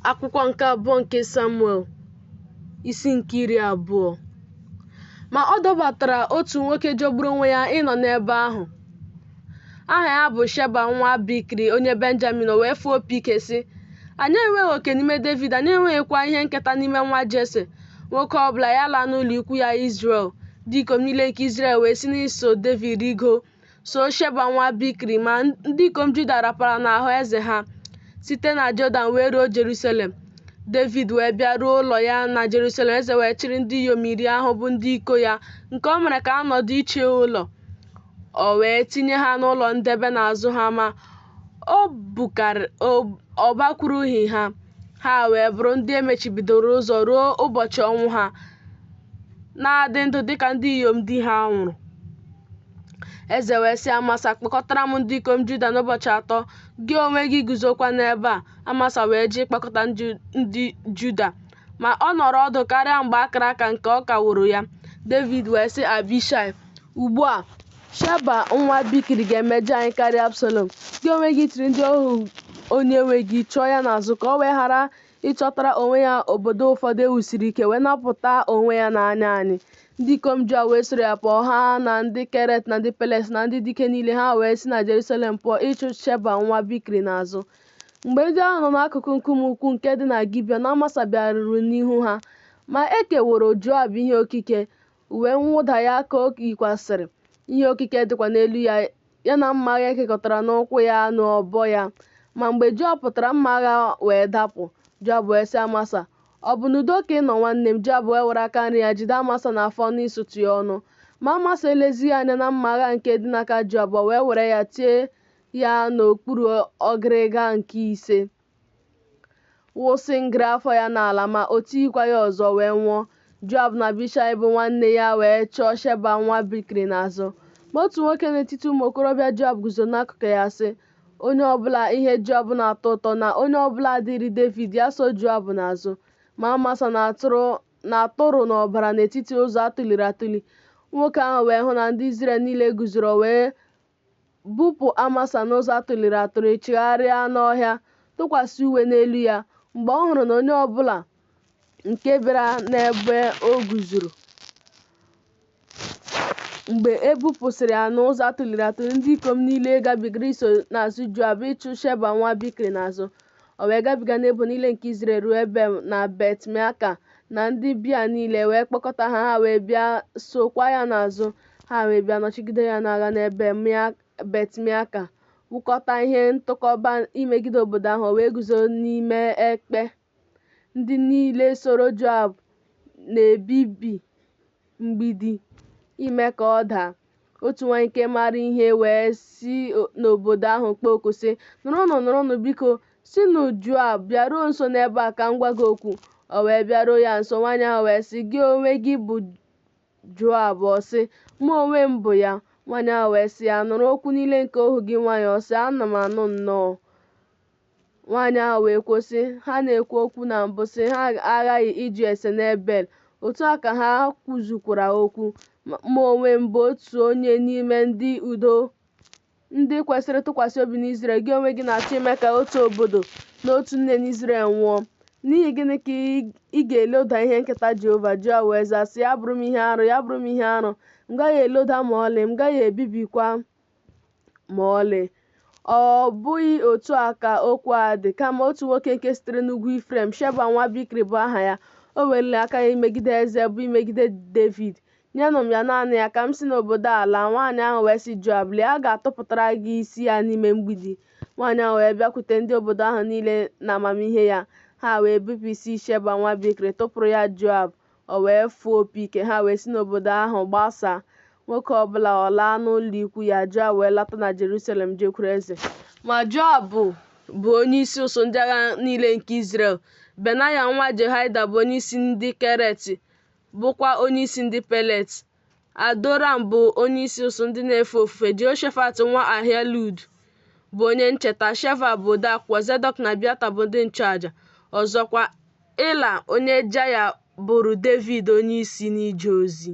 akwụkwọ nke abụọ nke samuel isi nke iri abụọ ma ọ dabatara otu nwoke jọgburu onwe ya ịnọ n'ebe ahụ aha ya bụ sheba nwa bikri onye benjamin o wee fụọ opi ike sị anyị enweghị oke n'ime david anyị enweghịkwa ihe nketa n'ime nwa jese nwoke ọbụla ya laa n'ụlọ ikwu ya izrel ndị ikom niile nke izrel wee si n'iso david rigo so Sheba nwa Bikri, ma ndị ikom Juda rapara n'ahụ eze ha site na Jọdan wee ruo Jerusalem. Devid wee bịa ruo ụlọ ya na Jerusalem, eze wee chịrị ndị inyom iri ahụ bụ ndị iko ya, nke o mere ka ha nọdụ iche ụlọ, o wee tinye ha n'ụlọ ndebe na-azụ ha, ma o bukarị- o- ọ bakwurughị ha, ha wee bụrụ ndị e mechibidoro ụzọ ruo ụbọchị ọnwụ ha. na-adị ndụ dịka ndị inyom di ha nwụrụ. Eze wee sị Amasa, kpọkọtara m ndị ikom Juda n'ụbọchị atọ, gị onwe gị guzokwa n'ebe a. Amasa wee jee ịkpọkọta ndị Juda, ma ọ nọrọ ọdụ karịa mgbe a kara aka nke ọ kaworo ya. Devid wee sị Abishai, Ugbu a, Sheba nwa Bikri ga-emejọ anyị karịa Absalom. Gị onwe gị chịrị ndị ohu onye nwe gị chụọ ya n'azụ ka o wee ghara ịchọtara onwe ya obodo ụfọdụ e wusiri ike wee napụta onwe ya n'anya anyị. Ndị ikom Joab wee soro ya pụọ, ha na ndị Keret na ndị Pelet na ndị dike niile, ha wee si na Jerusalem pụọ ịchụ Sheba nwa Bikri n'azụ. Mgbe ndị ahụ nọ n'akụkụ nkume ukwu nke dị na Gibiọn Amasa bịaruru n'ihu ha, ma e keworo Joab ihe okike, uwe mwụda ya ka o yikwasịrị, ihe okike dịkwa n'elu ya ya na mma agha e kekọtara n'ukwu ya n'ọbọ ya. Ma mgbe Joab pụtara, mma agha wee dapụ. Joab wee sị Amasa, Ọ bụ n'udo ka ị nọ nwanne m? Joab wee were aka nri ya jide Amasa n'afọ ọnụ isutu ya ọnụ. Ma Amasa elezighị anya na mma agha nke dị n'aka Joab, o wee were ya tie ya n'okpuru ọgịrịga nke ise. wụsị ngịrị afọ ya n'ala ma o tighịkwa ya ọzọ o wee nwụọ. Joab na Abishai bụ nwanne ya wee chụọ Sheba nwa Bikri n'azụ. Ma otu nwoke n'etiti ụmụ okorobịa Joab guzoro n'akụkụ ya sị, Onye ọbụla ihe Joab na-atọ ụtọ na onye ọbụla dịrị Devid ya so Joab n'azụ. Ma Amasa na-atụrụ n'ọbara n'etiti ụzọ a tụliri atụli. Nwoke ahụ wee hụ na ndị Izrel niile guzoro wee Bupụ Amasa n'ụzọ a tụliri atụli chigharịa n'ọhịa, tụkwasị uwe n'elu ya. Mgbe ọ hụrụ na onye ọbụla nke bịara n'ebe o guzoro, mgbe e bupụsịrị ya n'ụzọ a tụliri atụli, ndị ikom niile gabigara iso n'azụ Joab ịchụ Sheba nwa Bikri n'azụ. O wee gabiga n'ebo niile nke Izrel ruo Ebel na Bet-meaka na ndị Bia niile, e wee kpọkọta ha, ha wee bịa sookwa ya n'azụ. Ha wee bịa nọchigide ya n'agha n'Ebel Bet-Meaka, wụkọta ihe ntụkọba imegide obodo ahụ, o wee guzo n'ime ekpe. Ndị niile soro Joab na-ebibi mgbidi ime ka ọ daa. Otu nwaanyị nke maara ihe wee si n'obodo ahụ kpọọ oku sị, Nụrụnụ, nụrụnụ biko, sịnụ Joab bịaruo nso n'ebe a ka m gwa gị okwu. O wee bịaruo ya nso, nwaanyị ahụ wee sị, Gị onwe gị bụ Joab? Ọ sị, Mụ onwe m bụ ya. Nwaanyị ahụ wee sị ya, Nụrụ okwu niile nke ohu gị nwaanyị. Ọ sị, Ana m anụ nnọọ. Nwaanyị ahụ wee kwuo sị, Ha na-ekwu okwu na mbụ sị, ha aghaghị ịjụ ese n'Ebel. Otu a ka ha kwuzukwara okwu. Mụ onwe m bụ otu onye n'ime ndị udo Ndị kwesịrị ntụkwasị obi n'Izrel, gị onwe gị na-achọ ime ka otu obodo na otu nne n'Izrel nwụọ. N'ihi gịnị ka ị ga-eloda ihe nketa Jehova? Joab wee zaa, sị, Ya bụrụ m ihe arụ, ya bụrụ m ihe arụ, m gaghị eloda ma ọlị, m gaghị ebibikwa ma ọlị. Ọ bụghị otu a ka okwu a dị, kama otu nwoke nke sitere n'ugwu Ifrem, Sheba nwa Bikri bụ aha ya, o weliri aka ya imegide eze, bụ imegide Devid, Nyenụ m ya naanị ya, ka m si n'obodo a laa. Nwaanyị ahụ wee sị Joab, Lee, a ga-atụpụtara gị isi ya n'ime mgbidi. Nwaanyị ahụ wee bịakwute ndị obodo ahụ niile n'amamihe ya. Ha wee bipụ isi Sheba nwa Bikri, tụpụrụ ya Joab, o wee fụọ opi ike. Ha wee si n'obodo ahụ gbasaa, nwoke ọ bụla alaa n'ụlọikwu ya. Joab wee lata na Jerusalem jekwuru eze. Ma Joab bụ onyeisi usuu ndị agha niile nke Izrel. Benaya nwa Jehoiada bụ onyeisi ndị Keret, bụkwa onyeisi ndị Pelet. Adoram bụ onyeisi usuu ndị na-efe ofufe, Jehoshafat nwa Ahilud bụ onye ncheta, Sheva bụ odeakwụkwọ, Zedọk na Abiata bụ ndị nchụaja. Ọzọkwa, Ịra onye Jaya bụrụ Devid onyeisi n'ije ozi.